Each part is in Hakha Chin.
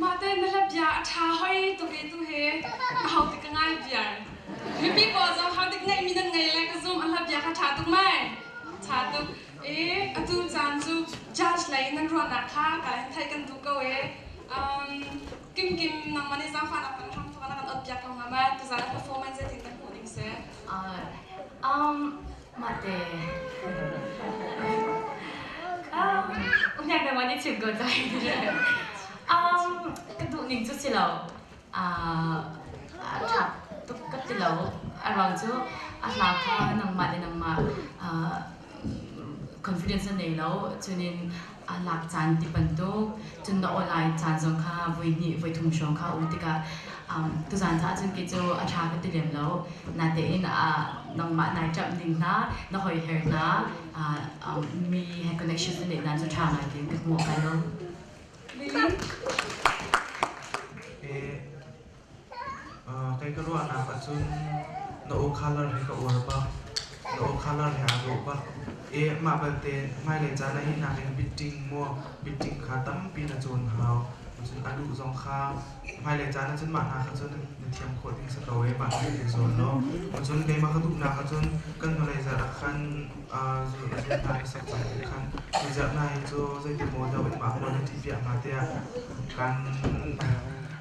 Mahte na le bia a ṭha hoi tu ve tu he ka hau tik ka ngai biar. Mipi pawl zong hau tik ngeih mi nan ngei le ka zoom an la bia kha ṭha tuk mai. Ṭha tuk. E, atu caan cu judge lei nan ruahnak kha ka in theih kan duh ko e. Um, Kim Kim nang man i zaangfan ak kan ram thawk na kan ot piak ko hnga mai. Tu zan performance zetin na hmuh ding se. Um, Mate. Um, Unya kan wani chim ko dai. Um, ka duh ning cu si lo. Uh, a tha tuk ka ti lo. A rau cu a hla kha nangmah le nangmah uh, confidence na nei lo. Cunin a lak caan ti bantuk cun na online caan zong kha voi hnih voi thum hrawng kha u tikah um, tuzaan ca ahcun kei cu a ṭha ka ti lem lo natein uh, nangmah nai ṭamh ning hna na hoi her hna uh, um, mi he connection na neih nan cu ṭha ngai tiin ka hmu kal lo Kei ka ruahnak ahcun na aw colour hi ka uar bak. Na aw colour hi aa dawh bak. Mah belte hmailei caan ah hi nakin bitting maw bitting kha tampi na cawn hau. Cun a duh zong kha hmailei caan ahcun mah hna kha cu na thiam khawh ding si ko ee. Mah hna hi zuam law. Cun keimah ka duhnak ahcun kan hnulei zarh ah khan zirhnak i sak cang nih khan zirhnak hi cu zeitimaw deuh mah hmual na ṭih piak hnga tiah kan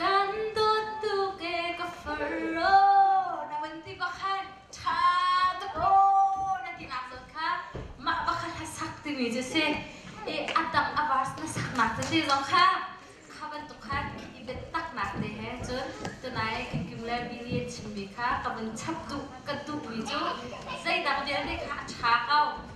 Kan dawttu ke ka faro na vun ti bakhan ṭha ka taw na ti nak zot kha mah bakhat ha sak timi cu si i a dang a verse na sak nak te zong kha kha bantuk khan i bet tak nak te he cun tunai kan kim le mi nih a chim mi kha ka vun chap duh ka duh mi cu zeidang vialte kha a ṭha ko